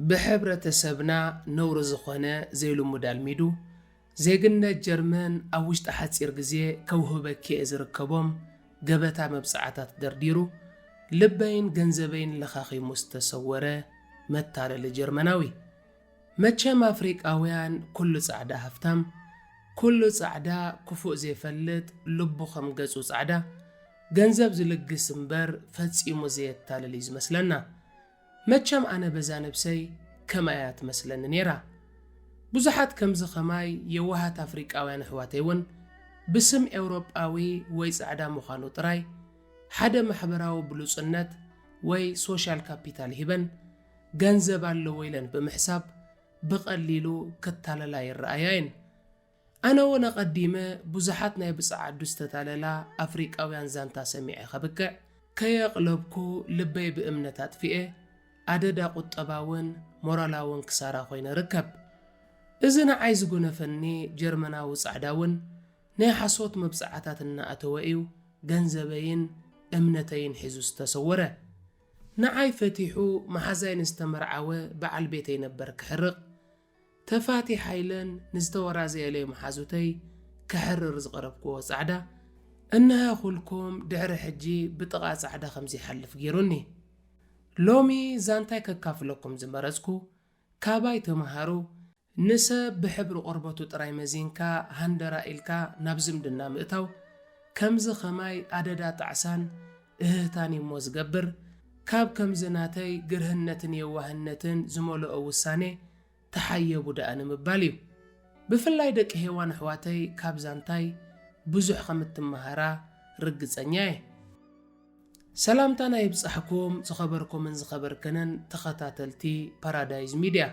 ብሕብረተሰብና ነውሪ ዝኾነ ዘይልሙድ ኣልሚዱ ዜግነት ጀርመን ኣብ ውሽጢ ሓጺር ግዜ ከውህበኪ'የ ዝርከቦም ገበታ መብጽዓታት ደርዲሩ ልበይን ገንዘበይን ለኻኺሙ ዝተሰወረ መታለሊ ጀርመናዊ። መቸም ኣፍሪቃውያን ኩሉ ጻዕዳ ሃፍታም ኩሉ ጻዕዳ ኩፉእ ዘይፈልጥ ልቡ ከም ገጹ ጻዕዳ ገንዘብ ዝልግስ እምበር ፈጺሙ ዘየታልል እዩ ዝመስለና መቸም ኣነ በዛ ነብሰይ ከምኣ እያ ትመስለኒ ኔራ ብዙሓት ከምዚ ከማይ የዋሃት ኣፍሪቃውያን ኣሕዋተይ ውን ብስም ኤውሮጳዊ ወይ ጻዕዳ ምዃኑ ጥራይ ሓደ ማሕበራዊ ብሉጽነት ወይ ሶሻል ካፒታል ሂበን ገንዘብ ኣለዎ ኢለን ብምሕሳብ ብቐሊሉ ክታለላ ይረኣያ እየን። ኣነ እውን ኣቐዲመ ብዙሓት ናይ ብጸዓዱ ዝተታለላ ኣፍሪቃውያን ዛንታ ሰሚዐ ከብቅዕ፣ ከየቕለብኩ ልበይ ብእምነት ኣጥፊኤ ኣደዳ ቁጠባውን ሞራላውን ክሳራ ኮይነ እርከብ። እዚ ንዓይ ዝጎነፈኒ ጀርመናዊ ጻዕዳ እውን ናይ ሓሶት መብጽዓታት እናኣተወ እዩ ገንዘበይን እምነተይን ሒዙ ዝተሰወረ። ንዓይ ፈቲሑ መሓዛይ ንዝተመርዓወ በዓል ቤተይ ነበር ክሕርቕ፣ ተፋቲ ሓይለን ንዝተወራዘየለይ መሓዙተይ ከሕርር ዝቐረብኩዎ ጻዕዳ፣ እንሀ ኹልኩም ድሕሪ ሕጂ ብጥቓ ጻዕዳ ከም ዘይሓልፍ ገይሩኒ። ሎሚ ዛንታይ ከካፍለኩም ዝመረጽኩ፣ ካባይ ተመሃሩ፣ ንሰብ ብሕብሪ ቆርበቱ ጥራይ መዚንካ ሃንደራ ኢልካ ናብ ዝምድና ምእታው ከምዚ ከማይ ኣደዳ ጣዕሳን እህህታን እዩሞ ዝገብር ካብ ከምዚ ናተይ ግርህነትን የዋህነትን ዝመሎኦ ውሳኔ ተሓየቡ ደኣ ንምባል እዩ ብፍላይ ደቂ ሄዋን ኣሕዋተይ ካብ ዛንታይ ብዙሕ ከምትማሃራ ርግጸኛ እየ። ሰላምታና ይብጻሕኩም ዝኸበርኩምን ዝኸበርክንን ተኸታተልቲ ፓራዳይዝ ሚድያ።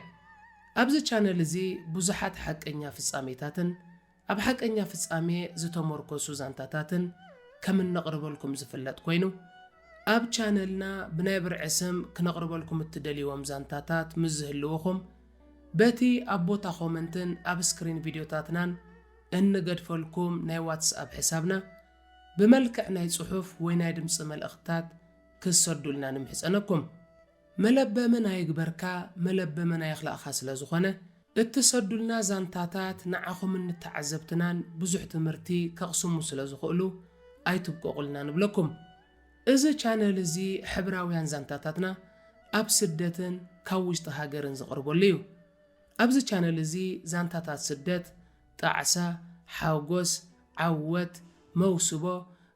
ኣብዚ ቻነል እዚ ብዙሓት ሓቀኛ ፍጻሜታትን ኣብ ሓቀኛ ፍጻሜ ዝተሞርኮሱ ዛንታታትን ከም እነቕርበልኩም ዝፍለጥ ኮይኑ ኣብ ቻነልና ብናይ ብርዒ ስም ክነቕርበልኩም እትደልይዎም ዛንታታት ምስ ዝህልውኹም በቲ ኣብ ቦታ ኮመንትን ኣብ ስክሪን ቪድዮታትናን እንገድፈልኩም ናይ ዋትስኣፕ ሕሳብና ብመልክዕ ናይ ጽሑፍ ወይ ናይ ድምጺ መልእኽትታት ክትሰዱልና ንምሕጸነኩም። መለበምን ኣይግበርካ መለበምን ኣይኽላእካ ስለ ዝኾነ፣ እትሰዱልና ዛንታታት ንዓኹምን ንተዓዘብትናን ብዙሕ ትምህርቲ ከቕስሙ ስለ ዝኽእሉ ኣይትብቀቑልና ንብለኩም። እዚ ቻነል እዚ ሕብራውያን ዛንታታትና ኣብ ስደትን ካብ ውሽጢ ሃገርን ዝቕርበሉ እዩ። ኣብዚ ቻነል እዚ ዛንታታት ስደት፣ ጣዕሳ፣ ሓጎስ፣ ዓወት፣ መውስቦ፣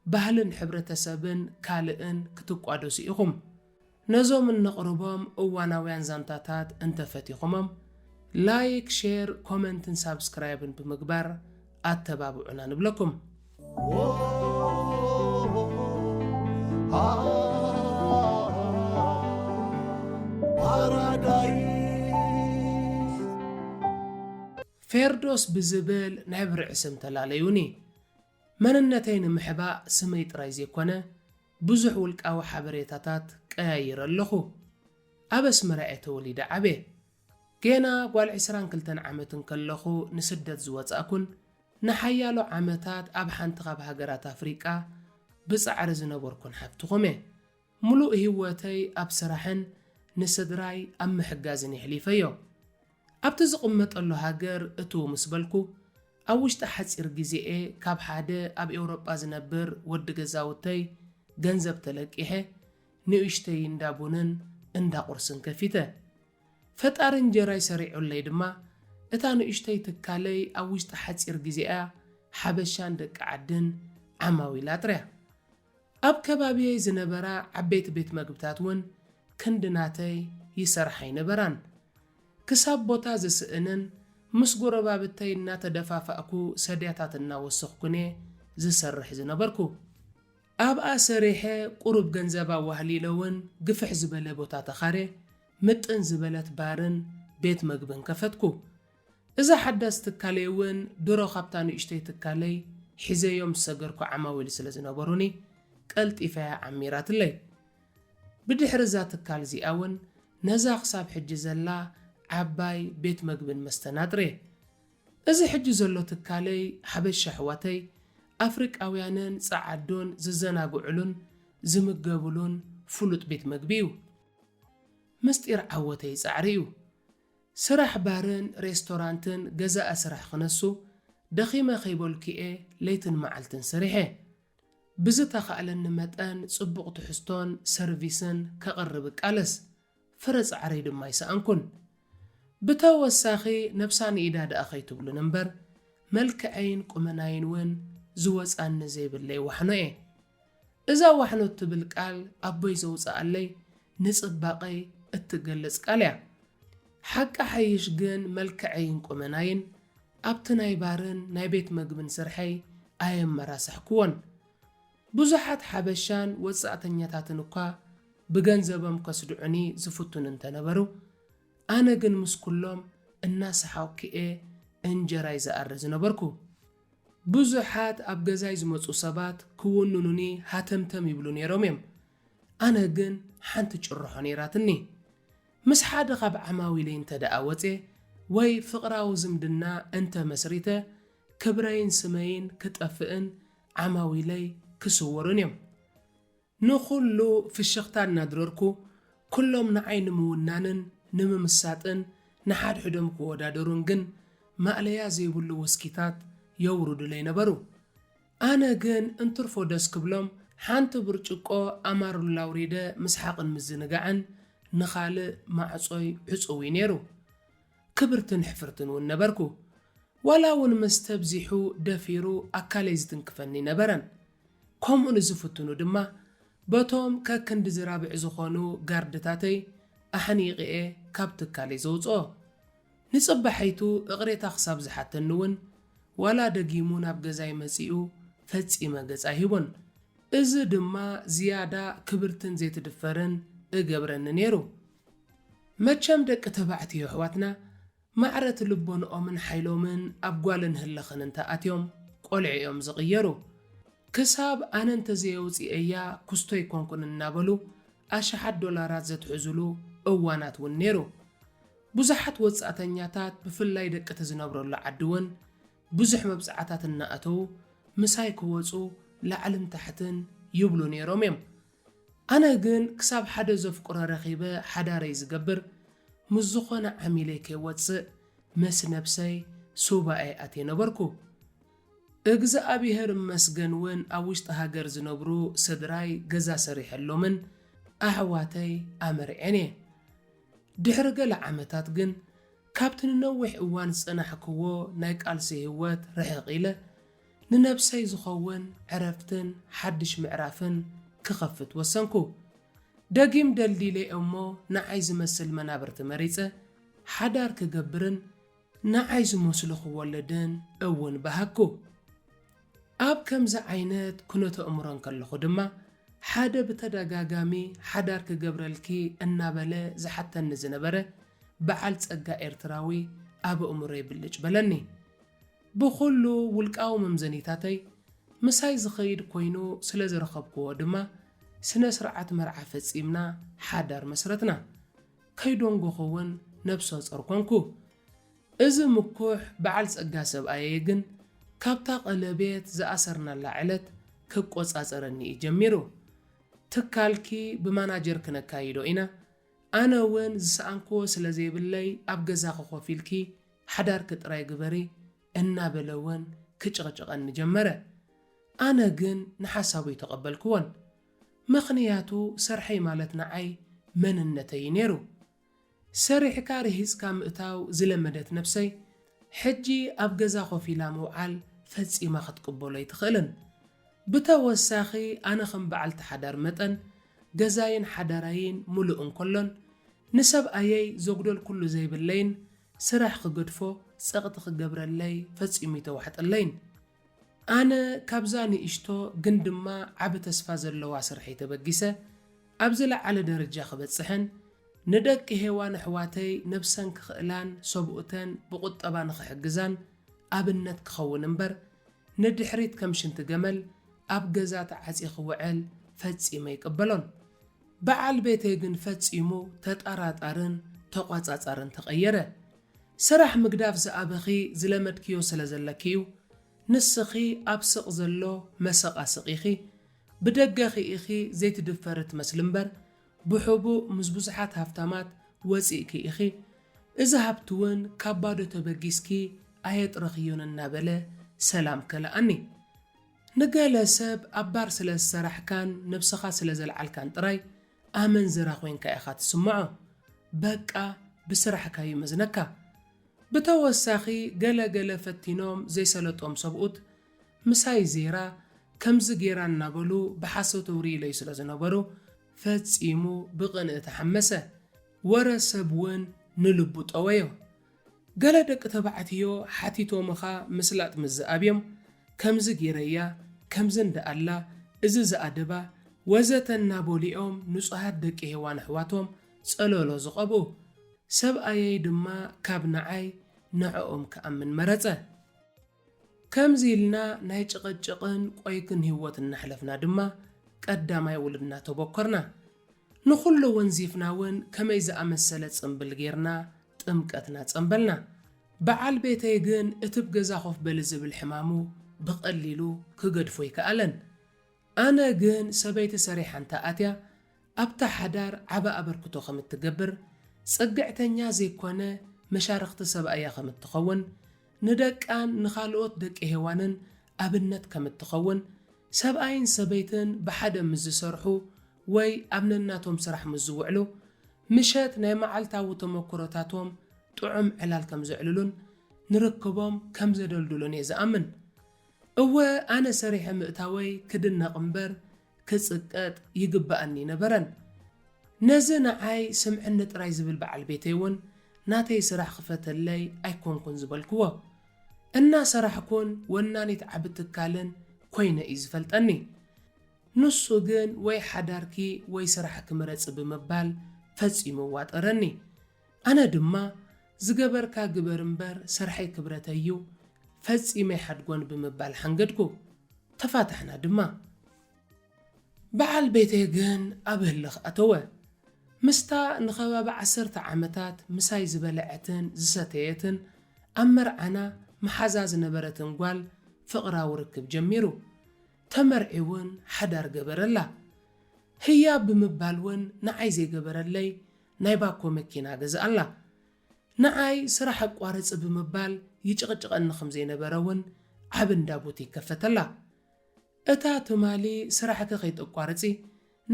ባህልን ሕብረተሰብን ካልእን ክትቋደሱ ኢኹም። ነዞም እነቕርቦም እዋናውያን ዛንታታት እንተፈቲኹሞም፣ ላይክ፣ ሼር፣ ኮመንትን ሳብስክራይብን ብምግባር ኣተባብዑና ንብለኩም። Paradise. ፌርዶስ ብዝብል ናይ ብርዒ ስም ተላለዩኒ። መንነተይ ንምሕባእ ስመይ ጥራይ ዘይኮነ ብዙሕ ውልቃዊ ሓበሬታታት ቀያይረ ኣለኹ። ኣብ ኣስመራ እየ ተወሊደ ዓብየ። ጌና ጓል ዕስራን ክልተን ዓመት እንከለኹ ንስደት ዝወጻእኩን ንሓያሎ ዓመታት ኣብ ሓንቲ ካብ ሃገራት ኣፍሪቃ ብጻዕሪ ዝነበርኩን ሓብትኹም እየ። ምሉእ ህይወተይ ኣብ ስራሕን ንስድራይ ኣብ ምሕጋዝን የሕሊፈዮ። ኣብቲ ዝቕመጠሉ ሃገር እትው ምስ በልኩ፣ ኣብ ውሽጢ ሓጺር ግዜ'የ ካብ ሓደ ኣብ ኤውሮጳ ዝነብር ወዲ ገዛውተይ ገንዘብ ተለቂሐ ንኡሽተይ እንዳ ቡንን እንዳ ቁርስን ከፊተ። ፈጣሪ እንጀራይ ሰሪዑለይ ድማ እታ ንኡሽተይ ትካለይ ኣብ ውሽጢ ሓጺር ግዜ'ያ ሓበሻን ደቂ ዓድን ዓማዊል ኣጥርያ። ኣብ ከባቢየይ ዝነበራ ዓበይቲ ቤት መግብታት እውን ክንዲ ናተይ ይሰርሓ ኣይነበራን። ክሳብ ቦታ ዝስእንን ምስ ጎረባብተይ እናተደፋፋእኩ ሰድያታት እናወሰኽኩን እየ ዝሰርሕ ዝነበርኩ። ኣብኣ ሰሪሐ ቁሩብ ገንዘብ ኣዋህሊለ እውን ግፍሕ ዝበለ ቦታ ተኻርየ ምጥን ዝበለት ባርን ቤት መግብን ከፈትኩ። እዛ ሓዳስ ትካለይ እውን ድሮ ካብታ ንእሽቶይ ትካለይ ሒዘዮም ዝሰገርኩ ዓማዊል ስለ ዝነበሩኒ ቀልጢፋ'ያ ዓሚራትለይ። ብድሕሪ እዛ ትካል እዚኣ እውን ነዛ ክሳብ ሕጂ ዘላ ዓባይ ቤት መግብን መስተን ኣጥርየ። እዚ ሕጂ ዘሎ ትካለይ ሓበሻ ኣሕዋተይ ኣፍሪቃውያንን ጸዓዱን ዝዘናግዑሉን ዝምገቡሉን ፍሉጥ ቤት መግቢ እዩ። ምስጢር ዓወተይ ጻዕሪ'ዩ። ስራሕ ባርን ሬስቶራንትን ገዛኢ ስራሕ ክነሱ ደኺመ ከይበልኩ'የ ለይትን መዓልትን ሰሪሐ። ብዝተኻእለኒ መጠን ጽቡቕ ትሕዝቶን ሰርቪስን ከቕርብ እቃለስ። ፍረ ጻዕረይ ድማ ኣይሰኣንኩን። ብተወሳኺ ነብሳ ንኢዳ ደኣ ከይትብሉኒ እምበር መልክዐይን ቁመናይን ውን ዝወጻኒ ዘይብለይ ዋሕኖ'የ። እዛ ዋሕሎ እትብል ቃል ኣቦይ ዘውጽኣለይ ንጽባቐይ እትገልጽ ቃል እያ። ሓቂ ሓይሽ ግን መልክዐይን ቁመናይን ኣብቲ ናይ ባርን ናይ ቤት መግብን ስርሐይ ኣየመራሳሕኩዎን። ብዙሓት ሓበሻን ወጻእተኛታትን እኳ ብገንዘቦም ከስድዑኒ ዝፍቱኑ እንተነበሩ፣ ኣነ ግን ምስ ኩሎም እናሰሓቕኩ'የ እንጀራይ ዝኣሪ ዝነበርኩ። ብዙሓት ኣብ ገዛይ ዝመጹ ሰባት ክውንኑኒ ሃተምተም ይብሉ ነይሮም እዮም። ኣነ ግን ሓንቲ ጭርሖ ነይራትኒ። ምስ ሓደ ካብ ዓማዊለይ እንተድኣ ወጽየ ወይ ፍቕራዊ ዝምድና እንተ መስሪተ፣ ክብረይን ስመይን ክጠፍእን ዓማዊለይ ክስወሩን እዮም። ንኹሉ ፍሽኽታ እናድረርኩ፣ ኩሎም ንዓይ ንምውናንን ንምምሳጥን ንሓድሕዶም ክወዳደሩን ግን ማእለያ ዘይብሉ ውስኪታት የውርዱለይ ነበሩ። ኣነ ግን እንትርፎ ደስ ክብሎም ሓንቲ ብርጭቆ ኣማሩላ ኣውሪደ ምስሓቕን ምዝንጋዕን ንኻልእ ማዕጾይ ዕጹው'ዩ ነይሩ። ክብርትን ሕፍርትን እውን ነበርኩ። ዋላ'ውን መስተ ኣብዚሑ ደፊሩ ኣካለይ ዝትንክፈኒ ነበረን። ከምኡ ንዝፍትኑ ድማ በቶም ከክንዲ ዝራብዕ ዝኾኑ ጋርድታተይ ኣሕኒቚ'የ ካብ ትካለይ ዘውጽኦ። ንጽባሒቱ እቕሬታ ክሳብ ዝሓተኒ'ውን ዋላ ደጊሙ ናብ ገዛይ መጺኡ ፈጺመ ገጽ ኣይህቦን። እዚ ድማ ዝያዳ ክብርትን ዘይትድፈርን እገብረኒ ነይሩ። መቸም ደቂ ተባዕትዮ ኣሕዋትና ማዕረቲ ልቦንኦምን ሓይሎምን ኣብ ጓልን ህልኽን እንተ ኣትዮም ቆልዑ እዮም ዝቕየሩ። ክሳብ ኣነ እንተ ዘየውጺኤያ ኩስቶ ኣይኮንኩን እናበሉ ኣሽሓት ዶላራት ዘትሕዙሉ እዋናት እውን ነይሩ። ብዙሓት ወጻእተኛታት ብፍላይ ደቂ'ቲ ዝነብረሉ ዓዲ እውን ብዙሕ መብጽዓታት እናኣተዉ ምሳይ ክወጹ ላዕልን ታሕትን ይብሉ ነይሮም እዮም። ኣነ ግን ክሳብ ሓደ ዘፍቅሮ ረኺበ ሓዳረይ ዝገብር ምስ ዝኾነ ዓሚለይ ከይወጽእ ምስ ነብሰይ ሱባኤ ኣትየ ነበርኩ። እግዝኣብሄር እመስገን ውን ኣብ ውሽጢ ሃገር ዝነብሩ ስድራይ ገዛ ሰሪሐሎምን ኣሕዋተይ ኣመርዔን እየ። ድሕሪ ገለ ዓመታት ግን ካብቲ ንነዊሕ እዋን ዝጸናሕክዎ ናይ ቃልሲ ሂወት ርሕቕ ኢለ፣ ንነብሰይ ዝኸውን ዕረፍትን ሓድሽ ምዕራፍን ክኸፍት ወሰንኩ። ደጊም ደልዲለ እሞ ንዓይ ዝመስል መናብርቲ መሪጸ ሓዳር ክገብርን ንዓይ ዝመስሉ ክወልድን እውን በሃግኩ። ኣብ ከምዚ ዓይነት ኩነተእምሮ እንከለኹ ድማ ሓደ ብተደጋጋሚ ሓዳር ክገብረልኪ እናበለ ዝሓተኒ ዝነበረ በዓል ጸጋ ኤርትራዊ ኣብ ኣእምሮይ ብልጭ በለኒ። ብኹሉ ውልቃዊ መምዘኒታተይ ምሳይ ዝኸይድ ኮይኑ ስለ ዝረኸብኩዎ ድማ ስነ ስርዓት መርዓ ፈጺምና ሓዳር መስረትና። ከይዶንጎኹ እውን ነብሰጾር ኮንኩ። እዚ ምኩሕ በዓል ጸጋ ሰብኣየይ ግን ካብታ ቀለቤት ዝኣሰርናላ ዕለት ክቆጻጸረኒ እዩ ጀሚሩ። ትካልኪ ብማናጀር ክነካይዶ ኢና፣ ኣነ እውን ዝሰኣንኩዎ ስለ ዘይብለይ ኣብ ገዛኺ ኮፍ ኢልኪ ሓዳርኪ ጥራይ ግበሪ እናበለ'ውን ክጭቕጭቐኒ ጀመረ። ኣነ ግን ንሓሳቡ ኣይተቐበልክዎን። ምኽንያቱ ስርሐይ ማለት ንዓይ መንነተይ'ዩ ነይሩ። ሰሪሕካ ርሂጽካ ምእታው ዝለመደት ነብሰይ፣ ሕጂ ኣብ ገዛ ኮፍ ኢላ ምውዓል ፈጺማ ክትቅበሎ ኣይትኽእልን። ብተወሳኺ ኣነ ከም በዓልቲ ሓዳር መጠን፣ ገዛይን ሓዳራይን ምሉእ እንከሎን፣ ንሰብኣየይ ዘጉደልኩሉ ዘይብለይን ስራሕ ክገድፎ ጸቕጢ ክገብረለይ ፈጺሙ እይተዋሕጠለይን። ኣነ ካብዛ ንእሽቶ ግን ድማ ዓቢ ተስፋ ዘለዋ ስርሐይ ተበጊሰ ኣብ ዝለዓለ ደረጃ ክበጽሕን ንደቂ ሄዋን ኣሕዋተይ ነብሰን ክኽእላን ሰብኡተን ብቑጠባ ንኽሕግዛን ኣብነት ክኸውን እምበር ንድሕሪት ከም ሽንቲ ገመል ኣብ ገዛ ተዓጽየ ክውዕል ፈጺመ ኣይቅበሎን። በዓል ቤተይ ግን ፈጺሙ ተጣራጣርን ተቋጻጻርን ተቐየረ። ስራሕ ምግዳፍ ዝኣበኺ ዝለመድክዮ ስለ ዘለኪ'ዩ። ንስኺ ኣብ ስቕ ዘሎ መሰቓ ስቕ ኢኺ። ብደገኺ ኢኺ ዘይትድፈሪ ትመስሊ እምበር ብሕቡእ ምስ ብዙሓት ሃፍታማት ወጺእኪ ኢኺ። እዚ ሃብቲ'ውን ካብ ባዶ ተበጊስኪ ኣየጥረኽዮን እናበለ ሰላም ከልኣኒ። ንገለ ሰብ ኣብ ባር ስለ ዝሰራሕካን ነብስኻ ስለ ዘልዓልካን ጥራይ ኣመንዝራ ኮይንካ ኢኻ ትስምዖ በቃ ብስራሕካ ዩ መዝነካ ብተወሳኺ ገለ ገለ ፈቲኖም ዘይሰለጦም ሰብኡት ምሳይ ዜራ ከምዚ ጌራ እናበሉ ብሓሶት ኣውርይለይ ስለ ዝነበሩ ፈጺሙ ብቅንኢ ተሓመሰ ወረ ሰብ ውን ንልቡ ጠወዮ ገለ ደቂ ተባዕትዮ ሓቲቶምኻ ምስላጥ ምስ ዝኣብዮም ከምዚ ጌረያ ከምዚ እንዳኣላ እዚ ዝኣደባ ወዘተ እናበሉ'ዮም ንጹሃት ደቂ ሄዋን ኣሕዋቶም ጸሎሎ ዝቐብኡ። ሰብኣየይ ድማ ካብ ንዓይ ንዕኦም ክኣምን መረጸ። ከምዚ ኢልና ናይ ጭቕጭቕን ቆይግን ህይወት እናሕለፍና ድማ ቀዳማይ ውልድና ተቦከርና። ንኹሉ ወንዚፍና እውን ከመይ ዝኣመሰለ ጽምብል ገይርና ጥምቀትና ጸምበልና። በዓል ቤተይ ግን እቲ ብ ገዛ ኮፍ በሊ ዝብል ሕማሙ ብቐሊሉ ክገድፎ ኣይከኣለን። ኣነ ግን ሰበይቲ ሰሪሓ እንተ ኣትያ ኣብታ ሓዳር ዓቢ ኣበርክቶ ከም እትገብር፣ ጽግዕተኛ ዘይኮነ መሻርኽቲ ሰብኣያ ከም እትኸውን፣ ንደቃን ንኻልኦት ደቂ ሄዋንን ኣብነት ከም እትኸውን፣ ሰብኣይን ሰበይትን ብሓደ ምስ ዝሰርሑ ወይ ኣብ ነናቶም ስራሕ ምስ ዝውዕሉ ምሸት ናይ መዓልታዊ ተመኩሮታቶም ጥዑም ዕላል ከም ዘዕልሉን ንርክቦም ከም ዘደልድሉን እየ ዝኣምን። እወ ኣነ ሰሪሐ ምእታወይ ክድነቕ እምበር ክጽቀጥ ይግበኣኒ ነበረን። ነዚ ንዓይ ስምዕኒ ጥራይ ዝብል በዓል ቤተይ እውን ናተይ ስራሕ ክፈተለይ ኣይኮንኩን ዝበልክዎ። እናሰራሕኩን ወናኒት ዓቢ ትካልን ኮይነ እዩ ዝፈልጠኒ። ንሱ ግን ወይ ሓዳርኪ ወይ ስራሕኪ ምረጺ ብምባል ፈጺሙ ዋጠረኒ። ኣነ ድማ ዝገበርካ ግበር እምበር ስርሐይ ክብረተይ እዩ፣ ፈጺመ ኣይሓድጎን ብምባል ሓንገድኩ። ተፋታሕና ድማ። በዓል ቤተይ ግን ኣብ ህልኽ ኣተወ። ምስታ ንኸባቢ ዓሰርተ ዓመታት ምሳይ ዝበልዐትን ዝሰተየትን ኣብ መርዓና መሓዛ ዝነበረትን ጓል ፍቕራዊ ርክብ ጀሚሩ። ተመርዒውን ሓዳር ገበረላ። ህያብ ብምባልውን ንዓይ ዘይገበረለይ ናይ ባኮ መኪና ገዝኣላ። ንዓይ ስራሕ ኣቋርጺ ብምባል ይጭቕጭቐኒ ከም ዘይነበረ እውን ዓቢ እንዳ ቡቲክ ከፈተላ። እታ ትማሊ ስራሕኪ ከይተቋርጺ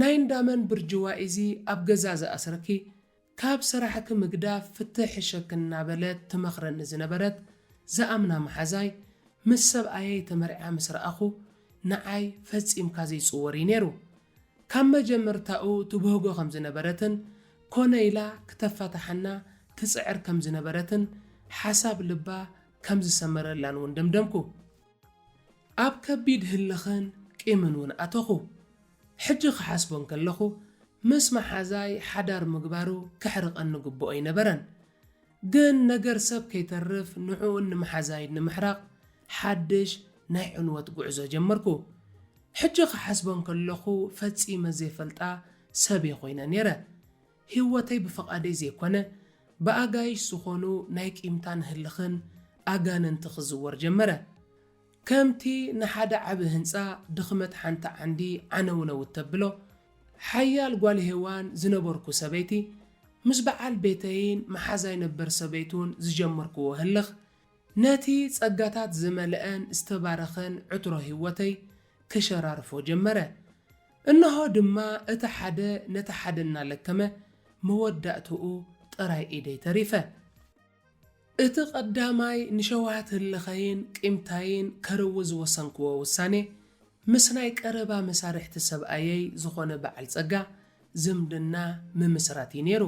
ናይ እንዳ መን ብርጅዋ'ዚ ኣብ ገዛ ዝኣስረኪ ካብ ስራሕኪ ምግዳፍ ፍትሕ ሕሸኪ እናበለት ትመኽረኒ ዝነበረት ዝኣምና መሓዛይ ምስ ሰብኣየይ ተመርዕያ ምስ ረኣኹ ንዓይ ፈጺምካ ዘይጽወር እዩ ነይሩ። ካብ መጀምርታኡ ትብህጎ ከም ዝነበረትን ኮነ ኢላ ክተፋታሓና ትጽዕር ከም ዝነበረትን ሓሳብ ልባ ከም ዝሰመረላን ውን ደምደምኩ። ኣብ ከቢድ ህልኽን ቂምን ውን ኣተኹ። ሕጂ ክሓስቦ እንከለኹ ምስ መሓዛይ ሓዳር ምግባሩ ከሕርቐኒ ግቡኦይነበረን። ግን ነገር ሰብ ከይተርፍ ንዕኡን ንመሓዛይን ንምሕራቕ ሓድሽ ናይ ዕንወት ጉዕዞ ጀመርኩ። ሕጂ ክሓስቦ ከለኹ ፈጺመ ዘይፈልጣ ሰብ'የ ኮይነ ነይረ። ህይወተይ ብፍቓደይ ዘይኮነ ብኣጋይሽ ዝኾኑ ናይ ቂምታን ህልኽን ኣጋንንቲ ክዝወር ጀመረ። ከምቲ ንሓደ ዓቢ ህንጻ ድኽመት ሓንቲ ዓንዲ ዓነውነው እተብሎ፣ ሓያል ጓል ሄዋን ዝነበርኩ ሰበይቲ፣ ምስ በዓል ቤተይን መሓዛይ ነበር ሰበይቱን ዝጀመርክዎ ህልኽ፣ ነቲ ጸጋታት ዝመልአን ዝተባረኸን ዕትሮ ህይወተይ ክሸራርፎ ጀመረ። እንሆ ድማ እቲ ሓደ ነቲ ሓደ እናለከመ መወዳእትኡ ጥራይ ኢደይ ተሪፈ። እቲ ቀዳማይ ንሸውሃት ህልኸይን ቂምታይን ከርዊ ዝወሰንክዎ ውሳኔ፣ ምስ ናይ ቀረባ መሳርሕቲ ሰብኣየይ ዝኾነ በዓል ጸጋ ዝምድና ምምስራት ኢዩ ነይሩ።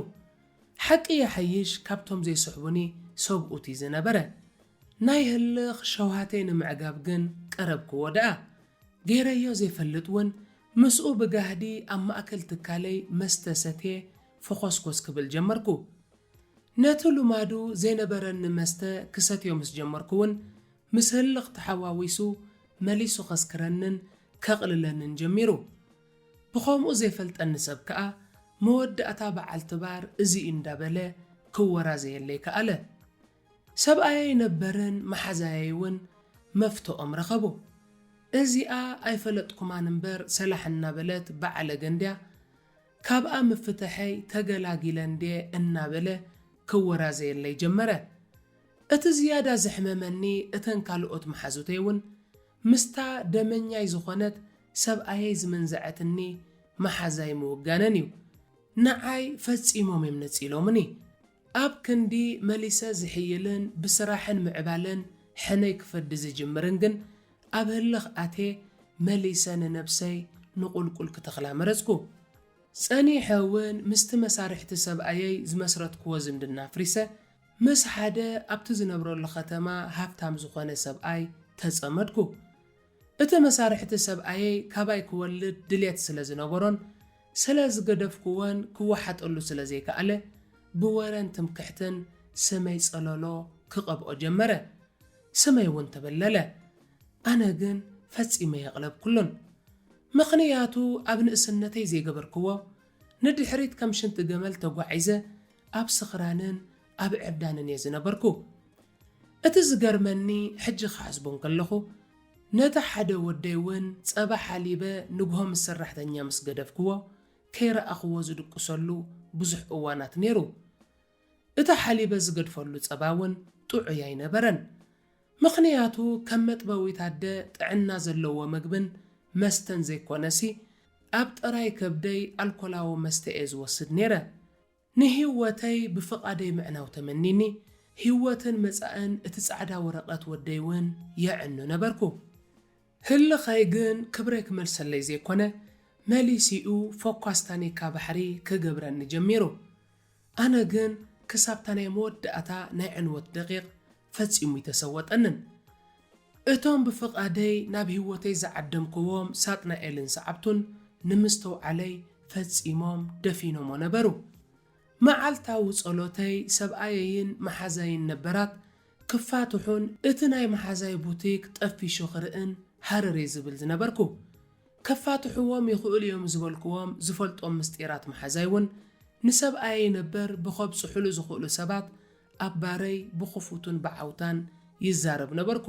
ሓቂ ይሓይሽ ካብቶም ዘይስሕቡኒ ሰብኡት ኢዩ ዝነበረ። ናይ ህልኽ ሸውሃተይ ንምዕጋብ ግን ቀረብክዎ ደኣ። ገይረዮ ዘይፈልጥ ውን ምስኡ ብጋህዲ ኣብ ማእከል ትካለይ መስተ ሰትየ ፈኾስኮስ ክብል ጀመርኩ። ነቲ ልማዱ ዘይነበረኒ መስተ ክሰትዮ ምስ ጀመርኩ'ውን፣ ምስ ህልኽ ተሓዋዊሱ መሊሱ ከስክረንን ከቕልለንን ጀሚሩ። ብኸምኡ ዘይፈልጠኒ ሰብ ከኣ፣ መወዳእታ በዓልቲ ባር እዚ'ዩ እንዳበለ ክወራዘየለይ ከኣለ። ሰብኣየይ ነበርን መሓዛየይ'ውን መፍትኦም ረኸቡ። እዚኣ ኣይፈለጥኩማን እምበር ሰላሕ እናበለት ብዓለገ እንድያ፣ ካብኣ ምፍትሐይ ተገላጊለ እንድየ እናበለ ከወራዘየለይ ጀመረ። እቲ ዝያዳ ዘሕመመኒ እተን ካልኦት መሓዙተይ እውን ምስታ ደመኛይ ዝኾነት ሰብኣየይ ዝመንዘዐትኒ መሓዛይ ምውጋነን እዩ። ንዓይ ፈጺሞም እዮም ነጺሎምኒ። ኣብ ክንዲ መሊሰ ዝሕይልን ብስራሕን ምዕባለን ሕነይ ክፈዲ ዝጅምርን ግን ኣብ ህልኽ ኣትየ መሊሰ ንነብሰይ ንቑልቁል ክተኽላ መረጽኩ። ጸኒሐ እውን ምስቲ መሳርሕቲ ሰብኣየይ ዝመስረትክዎ ዝምድና ኣፍሪሰ ምስ ሓደ ኣብቲ ዝነብረሉ ከተማ ሃብታም ዝኾነ ሰብኣይ ተጸመድኩ። እቲ መሳርሕቲ ሰብኣየይ ካባይ ክወልድ ድሌት ስለ ዝነበሮን ስለ ዝገደፍኩዎን ክወሓጠሉ ስለ ዘይከኣለ ብወረን ትምክሕትን ስመይ ጸለሎ ክቐብኦ ጀመረ። ስመይ እውን ተበለለ። ኣነ ግን ፈጺመ ኣየቕለብኩሉን። ምኽንያቱ ኣብ ንእስነተይ ዘይገበርክዎ ንድሕሪት ከም ሽንቲ ገመል ተጓዒዘ ኣብ ስኽራንን ኣብ ዕብዳንን እየ ዝነበርኩ። እቲ ዝገርመኒ ሕጂ ክሓስቦ እንከለኹ፣ ነቲ ሓደ ወደይ እውን ጸባ ሓሊበ ንግሆ ምስ ሰራሕተኛ ምስ ገደፍክዎ፣ ከይረኣኽዎ ዝድቅሰሉ ብዙሕ እዋናት ነይሩ። እቲ ሓሊበ ዝገድፈሉ ጸባ እውን ጥዑይ ኣይነበረን። ምኽንያቱ ከም መጥበዊት ኣደ ጥዕና ዘለዎ መግብን መስተን ዘይኮነሲ፣ ኣብ ጥራይ ከብደይ ኣልኮላዊ መስተ እየ ዝወስድ ነይረ። ንሂወተይ ብፍቓደይ ምዕናው ተመኒኒ፣ ሂወትን መጻእን እቲ ጻዕዳ ወረቐት ወደይ ውን የዕኑ ነበርኩ። ህልኸይ ግን ክብረይ ክመልሰለይ ዘይኮነ፣ መሊሲኡ ፎኳስ ታኒካ ባሕሪ ክገብረኒ ጀሚሩ። ኣነ ግን ክሳብታ ናይ መወዳእታ ናይ ዕንወት ደቒቕ ፈጺሙ እይተሰወጠንን። እቶም ብፍቓደይ ናብ ህይወተይ ዝዓደምኩዎም ሳጥናኤልን ሰዓብቱን ንምስትውዓለይ ፈጺሞም ደፊኖሞ ነበሩ። መዓልታዊ ጸሎተይ ሰብኣየይን መሓዛይን ነበራት ክፋትሑን እቲ ናይ መሓዛይ ቡቲክ ጠፊሹ ክርእን ሃረር እየ ዝብል ዝነበርኩ። ከፋትሑዎም ይኽእሉ እዮም ዝበልኩዎም ዝፈልጦም ምስጢራት መሓዛይ እውን ንሰብኣየይ ነበር ብኸብጽሑሉ ዝኽእሉ ሰባት ኣብ ባረይ ብኽፉቱን ብዓውታን ይዛረብ ነበርኩ።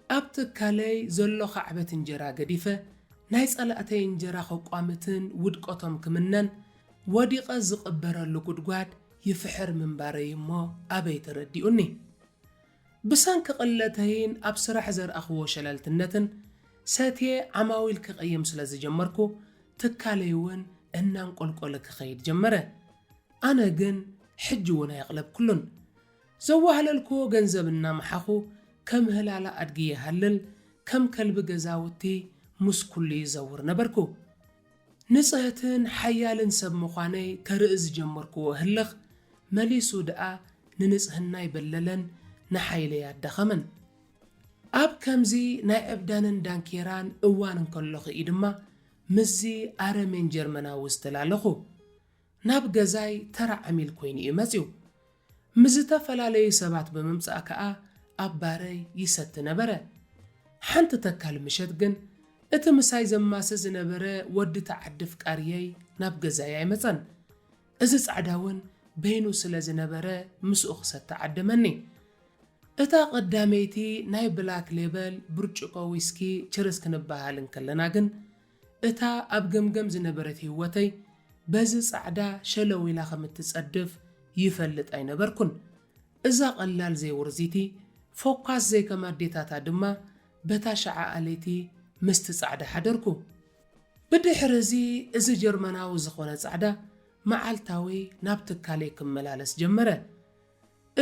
ኣብ ትካለይ ዘሎ ካዕበት እንጀራ ገዲፈ፣ ናይ ጸላእተይ እንጀራ ከቋምትን ውድቀቶም ክምነን፣ ወዲቐ ዝቕበረሉ ጉድጓድ ይፍሕር ምንባረይ እሞ ኣበይ ተረዲኡኒ። ብሰንኪ ቅለተይን ኣብ ስራሕ ዘርኣኽዎ ሸለልትነትን፣ ሰትየ ዓማዊል ክቕይም ስለ ዝጀመርኩ፣ ትካለይ'ውን እናንቆልቆለ ክኸይድ ጀመረ። ኣነ ግን ሕጂ ውን ኣየቕለብኩሉን። ዘዋህለልኩዎ ገንዘብ እናመሓኹ ከም ህላላ ኣድጊ ይሃልል፣ ከም ከልቢ ገዛውቲ ምስ ኩሉ ይዘውር ነበርኩ። ንጽህትን ሓያልን ሰብ ምዃነይ ከርኢ ዝጀመርኩዎ ህልኽ መሊሱ ድኣ ንንጽህናይ በለለን ንሓይለይ ኣዳኸመን። ኣብ ከምዚ ናይ ዕብዳንን ዳንኬራን እዋን እንከለኹ እዪ ድማ ምስዚ ኣረሜን ጀርመናዊ ዝተላለኹ። ናብ ገዛይ ተራ ዓሚል ኮይኑ እዩ መጺኡ። ምስ ዝተፈላለዩ ሰባት ብምምጻእ ከኣ ኣብ ባረይ ይሰቲ ነበረ። ሓንቲ ተካል ምሸት ግን እቲ ምሳይ ዘማሲ ዝነበረ ወዲ እቲ ዓዲ ፍቃርየይ ናብ ገዛይ ኣይመጸን። እዚ ጻዕዳ እውን በይኑ ስለ ዝነበረ ምስኡ ክሰቲ ዓደመኒ። እታ ቀዳመይቲ ናይ ብላክ ሌበል ብርጭቆ ዊስኪ ችርስ ክንበሃሃል እንከለና ግን፣ እታ ኣብ ገምገም ዝነበረት ህይወተይ በዚ ጻዕዳ ሸለው ኢላ ከም እትጸድፍ ይፈልጥ ኣይነበርኩን። እዛ ቐላል ዘይውርዚቲ ፎካስ ዘይከም ኣዴታታ ድማ በታ ሸዓኣ ለይቲ ምስቲ ጻዕዳ ሓደርኩ። ብድሕሪ እዚ እዚ ጀርመናዊ ዝኾነ ጻዕዳ መዓልታዊ ናብ ትካለይ ክመላለስ ጀመረ።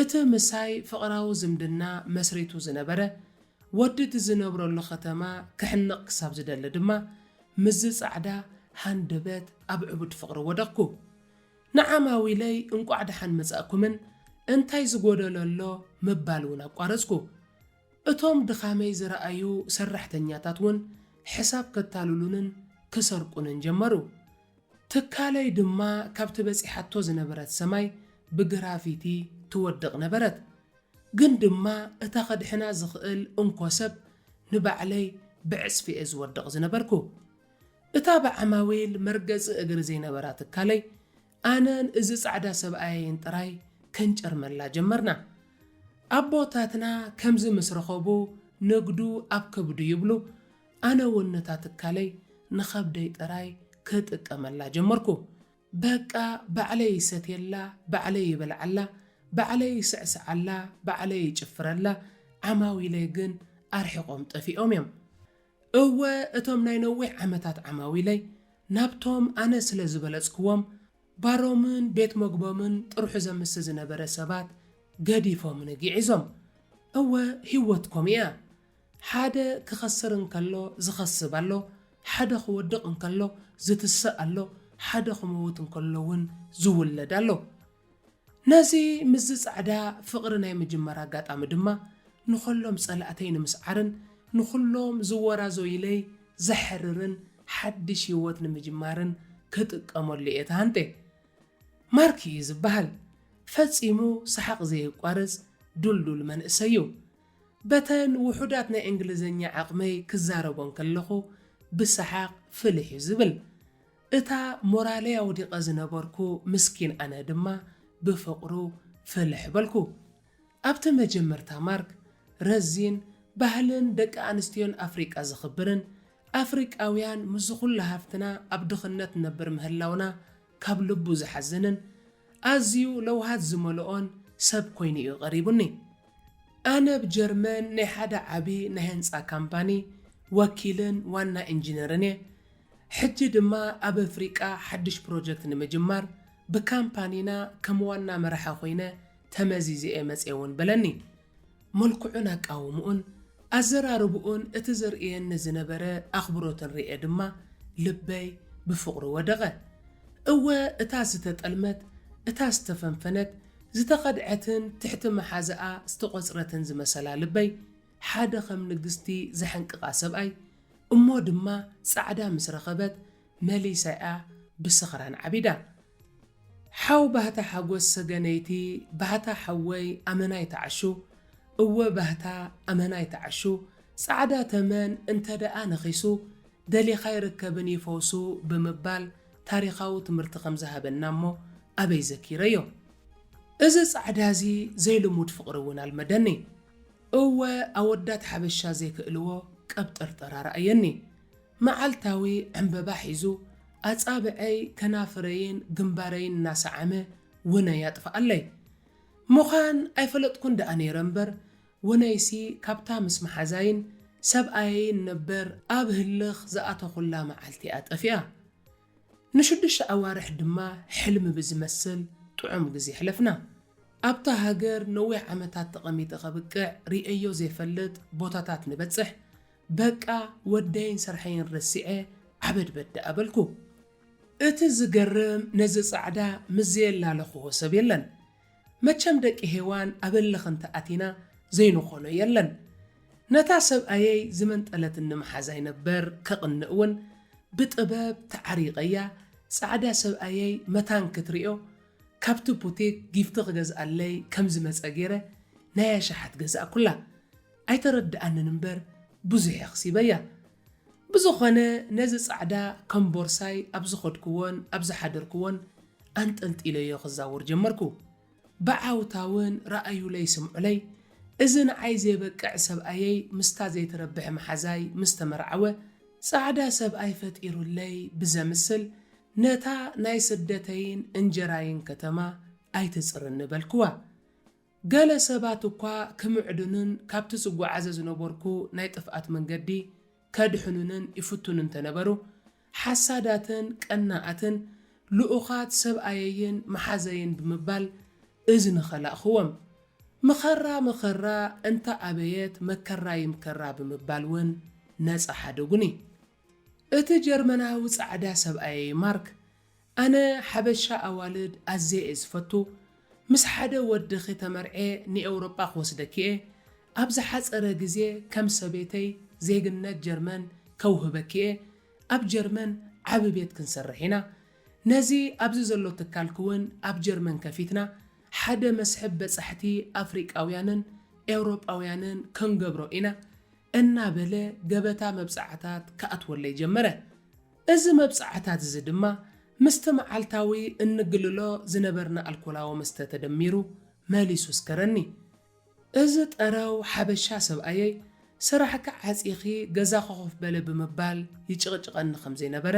እቲ ምሳይ ፍቕራዊ ዝምድና መስሪቱ ዝነበረ ወዲ እቲ ዝነብረሉ ከተማ ክሕነቕ ክሳብ ዝደሊ ድማ ምስዚ ጻዕዳ ሃንደበት ኣብ ዕቡድ ፍቕሪ ወደቕኩ። ንዓማዊለይ እንቋዕ ደሓን መጻእኩምን እንታይ ዝጎደሎ ኣሎ ምባል እውን ኣቋረጽኩ። እቶም ድኻመይ ዝረኣዩ ሰራሕተኛታት ውን ሕሳብ ከታልሉንን ክሰርቁንን ጀመሩ። ትካለይ ድማ ካብቲ በጺሓቶ ዝነበረት ሰማይ ብግራፊቲ ትወድቕ ነበረት። ግን ድማ እታ ከድሕና ዝኽእል እንኮ ሰብ ንባዕለይ ብዕጽፊ'የ ዝወድቕ ዝነበርኩ። እታ ብዓማዊል መርገጺ እግሪ ዘይነበራ ትካለይ ኣነን እዚ ጻዕዳ ሰብኣየይን ጥራይ ከንጨርመላ ጀመርና። ኣቦታትና ከምዚ ምስ ረኸቡ ንግዱ ኣብ ከብዱ ይብሉ፣ ኣነ'ውን ነታ ትካለይ ንኸብደይ ጥራይ ክጥቀመላ ጀመርኩ። በቃ ባዕለይ ይሰትየላ፣ ባዕለይ ይበልዓላ፣ ባዕለይ ይስዕስዓላ፣ ባዕለይ ይጭፍረላ፣ ዓማዊለይ ግን ኣርሒቖም ጠፊኦም'ዮም። እወ እቶም ናይ ነዊሕ ዓመታት ዓማዊለይ ናብቶም ኣነ ስለ ዝበለጽክዎም ባሮምን ቤት መግቦምን ጥርሑ ዘምስ ዝነበረ ሰባት ገዲፎምኒ ግዒዞም። እወ ሂወት ከምኡ እያ። ሓደ ክኸስር እንከሎ ዝኸስብ ኣሎ፣ ሓደ ክወድቕ እንከሎ ዝትስእ ኣሎ፣ ሓደ ክመውት እንከሎ ውን ዝውለድ ኣሎ። ነዚ ምስዚ ጻዕዳ ፍቕሪ ናይ ምጅማር ኣጋጣሚ ድማ ንኸሎም ጸላእተይ ንምስዓርን ንኹሎም ዝወራዞዩለይ ዘሕርርን ሓድሽ ህይወት ንምጅማርን ክጥቀመሉ እየ ተሃንጤ። ማርክ እዩ ዝበሃል። ፈጺሙ ሰሓቕ ዘየቋርጽ ዱልዱል መንእሰይ እዩ። በተን ውሑዳት ናይ እንግሊዝኛ ዓቕመይ ክዛረቦ እንከለኹ ብሰሓቕ ፍልሕ እዩ ዝብል። እታ ሞራለይ ኣውዲቐ ዝነበርኩ ምስኪን ኣነ ድማ ብፍቕሩ ፍልሕ በልኩ። ኣብቲ መጀመርታ ማርክ፣ ረዚን፣ ባህልን ደቂ ኣንስትዮን ኣፍሪቃ ዘኽብርን፣ ኣፍሪቃውያን ምስዚ ኩሉ ሃፍትና ኣብ ድኽነት ንነብር ምህላውና ካብ ልቡ ዝሓዝንን፣ ኣዝዩ ለውሃት ዝመልኦን ሰብ ኮይኑ'ዩ ቀሪቡኒ። ኣነ ኣብ ጀርመን ናይ ሓደ ዓቢ ናይ ህንጻ ካምፓኒ ወኪልን ዋና ኢንጂነርን እየ። ሕጂ ድማ ኣብ ኣፍሪቃ ሓድሽ ፕሮጀክት ንምጅማር ብካምፓኒና ከም ዋና መራሒ ኰይነ ተመዚዘ እየ መጺኤ እውን በለኒ። መልክዑን ኣቃውምኡን ኣዘራርባኡን እቲ ዘርእየኒ ዝነበረ ኣኽብሮትን ርእየ ድማ ልበይ ብፍቕሩ ወደቐ። እወ እታ ዝተጠልመት፣ እታ ዝተፈንፈነት፣ ዝተኸድዐትን ትሕቲ መሓዝኣ ዝተቖጽረትን ዝመሰላ ልበይ፣ ሓደ ከም ንግስቲ ዘሕንቅቓ ሰብኣይ፣ እሞ ድማ ጻዕዳ ምስ ረኸበት መሊሳ'ያ ብስኽራን ዓቢዳ። ሓው ባህታ ሓጎስ ሰገነይቲ፣ ባህታ ሓወይ ኣመና ይትዓሹ፣ እወ ባህታ ኣመና ይትዓሹ፣ ጻዕዳ ተመን እንተደኣ ነኺሱ፣ ደሊኻ ይርከብን ይፈውሱ ብምባል፣ ታሪኻዊ ትምህርቲ ከም ዝሃበና እሞ ኣበይ ዘኪረዮ እዚ ጻዕዳ እዚ ዘይልሙድ ፍቅሪ እውን ኣልመደኒ እወ ኣወዳት ሓበሻ ዘይክእልዎ ቀብጠርጠር ኣርኣየኒ መዓልታዊ ዕምበባ ሒዙ ኣጻብዐይ ከናፍረይን ግንባረይን እናሰዓመ ውነይ ኣጥፍኣለይ ምዃን ኣይፈለጥኩን ደኣ ነይረ እምበር ወናይሲ ካብታ ምስ መሓዛይን ሰብኣየይን ነበር ኣብ ህልኽ ዝኣተኹላ መዓልቲ'ያ ጠፊኣ። ንሽዱሽተ ኣዋርሕ ድማ ሕልሚ ብዝመስል ጥዑም ግዜ ኣሕለፍና። ኣብታ ሃገር ነዊሕ ዓመታት ተቐሚጠ ከብቅዕ ርእየዮ ዘይፈልጥ ቦታታት ንበጽሕ፣ በቃ ወደይን ስርሐይን ረሲዐ ዓበድበድ ደኣ በልኩ። እቲ ዝገርም ነዚ ጻዕዳ ምስ ዘየላለኹዎ ሰብ የለን። መቸም ደቂ ሄዋን ኣብ እልኽ እንተ ኣቲና ዘይንኾኖ የለን ነታ ሰብኣየይ ዝመንጠለትኒ መሓዛይ ነበር ከቕንእ ውን ብጥበብ ተዓሪቐያ ጻዕዳ ሰብኣየይ መታን ክትሪኦ ካብቲ ቡቲክ ጊፍቲ ክገዝኣለይ ከም ዝመጸ ጌረ ናይ ኣሽሓት ገዛእኩላ ኣይተረድኣንን እምበር ብዙሕ የኽሲበያ። ብዝኾነ ነዚ ጻዕዳ ከም ቦርሳይ ኣብ ዝኸድኩዎን ኣብ ዝሓደርኩዎን ኣንጠልጢለዮ ክዛወር ጀመርኩ። ብዓውታውን ርኣዩለይ ስምዑለይ፣ እዚ ንዓይ ዘይበቅዕ ሰብኣየይ ምስታ ዘይትረብሕ መሓዛይ ምስ ተመርዓወ፣ ጻዕዳ ሰብኣይ ፈጢሩለይ ብዘምስል ነታ ናይ ስደተይን እንጀራይን ከተማ ኣይትጽርኒ በልኩዋ። ገለ ሰባት እኳ ክምዕዱንን ካብቲ ዝጐዓዘ ዝነበርኩ ናይ ጥፍኣት መንገዲ ከድሕኑንን ይፍትኑ እንተ ነበሩ፣ ሓሳዳትን ቀናኣትን ልኡኻት ሰብኣየይን መሓዘይን ብምባል እዝኒ ኸላእኽዎም። መኸራ መኸራ እንተ ኣበየት መከራ ይምከራ ብምባል እውን ነጻ ሓደጉኒ። እቲ ጀርመናዊ ጻዕዳ ሰብኣየይ ማርክ ኣነ ሓበሻ ኣዋልድ ኣዝየ እየ ዝፈቱ ምስ ሓደ ወድኺ ተመርዕየ ንኤውሮጳ ክወስደኪ እየ ኣብ ዝሓጸረ ግዜ ከም ሰበይተይ ዜግነት ጀርመን ከውህበኪ እየ ኣብ ጀርመን ዓቢ ቤት ክንሰርሕ ኢና ነዚ ኣብዚ ዘሎ ትካልኪ ውን ኣብ ጀርመን ከፊትና ሓደ መስሕብ በጻሕቲ ኣፍሪቃውያንን ኤውሮጳውያንን ክንገብሮ ኢና እናበለ ገበታ መብጽዓታት ክኣትወለይ ጀመረ እዚ መብጽዓታት'ዚ ድማ ምስቲ መዓልታዊ እንግልሎ ዝነበርና ኣልኮላዊ መስተ ተደሚሩ መሊሱ ኣስከረኒ። እዚ ጠረው ሓበሻ ሰብኣየይ ስራሕኪ ዓጺኺ ገዛኺ ኮፍ በሊ ብምባል ይጭቕጭቐኒ ከም ዘይነበረ፣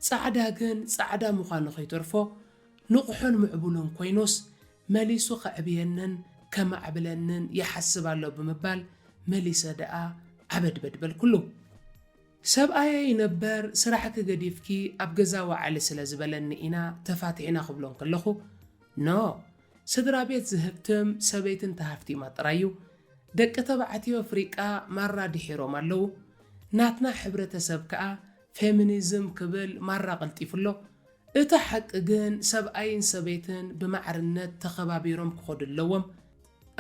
ጻዕዳ ግን ጻዕዳ ምዃኑ ከይተርፎ ንቑሕን ምዕቡልን ኮይኑስ መሊሱ ከዕብየንን ከማዕብለንን ይሓስብ ኣሎ ብምባል መሊሰ ደኣ ዓበድበድ በልኩሉ። ሰብኣየይ ነበር ስራሕኪ ገዲፍኪ ኣብ ገዛ ወዓሊ ስለ ዝበለኒ ኢና ተፋቲሕና ክብሎ እንክለኹ No ስድራቤት ዝህብትም ሰበይቲ እንተሃፍቲማ ጥራይ'ዩ ደቂ ተባዕትዮ ኣፍሪቃ ማራ ድሒሮም ኣለዉ ናትና ሕብረተሰብ ከኣ ፌሚኒዝም ክብል ማራ ቀልጢፉ ኣሎ እቲ ሓቂ ግን ሰብኣይን ሰበይትን ብማዕርነት ተኸባቢሮም ክኸዱ ኣለዎም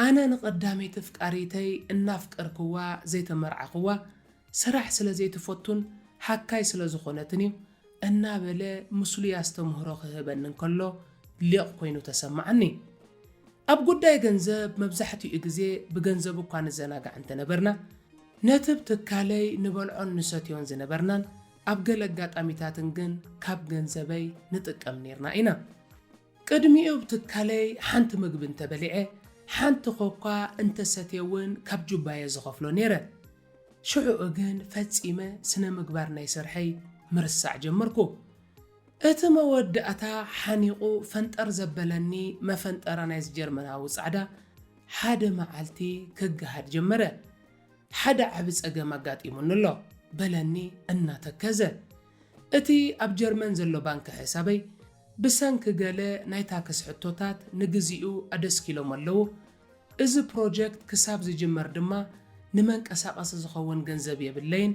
ኣነ ንቀዳመይቲ ኣፍቃሪተይ እናፍቀርክዋ ዘይተመርዓኽዋ ስራሕ ስለ ዘይትፈቱን ሓካይ ስለ ዝኾነትን እዩ እናበለ ምስሉይ ኣስተምህሮ ክህበኒ እንከሎ ሊቕ ኮይኑ ተሰመዓኒ። ኣብ ጉዳይ ገንዘብ መብዛሕትኡ ግዜ ብገንዘቡ እኳ ንዘናጋዕ እንተነበርና፣ ነቲብ ትካለይ ንበልዖን ንሰትዮን ዝነበርናን ኣብ ገለ ኣጋጣሚታትን ግን ካብ ገንዘበይ ንጥቀም ኔርና ኢና። ቅድሚኡ ኣብ ትካለይ ሓንቲ ምግቢ እንተበሊዐ፣ ሓንቲ ኮካ እንተሰትየ እውን ካብ ጁባየ ዝኸፍሎ ኔረ። ሽሕኡ ግን ፈጺመ ስነ-ምግባር ናይ ስርሐይ ምርሳዕ ጀመርኩ። እቲ መወዳእታ ሓኒቑ ፈንጠር ዘበለኒ መፈንጠራ ናይዚ ጀርመናዊ ጻዕዳ፣ ሓደ መዓልቲ ክገሃድ ጀመረ። ሓደ ዓቢ ጸገም ኣጋጢሙኒ ኣሎ፣ በለኒ እናተከዘ። እቲ ኣብ ጀርመን ዘሎ ባንክ ሕሳበይ፣ ብሰንኪ ገለ ናይ ታክስ ሕቶታት ንግዚኡ ኣደስኪሎሞ ኣለዉ፣ እዚ ፕሮጀክት ክሳብ ዝጅመር ድማ ንመንቀሳቐሲ ዝኸውን ገንዘብ የብለይን፣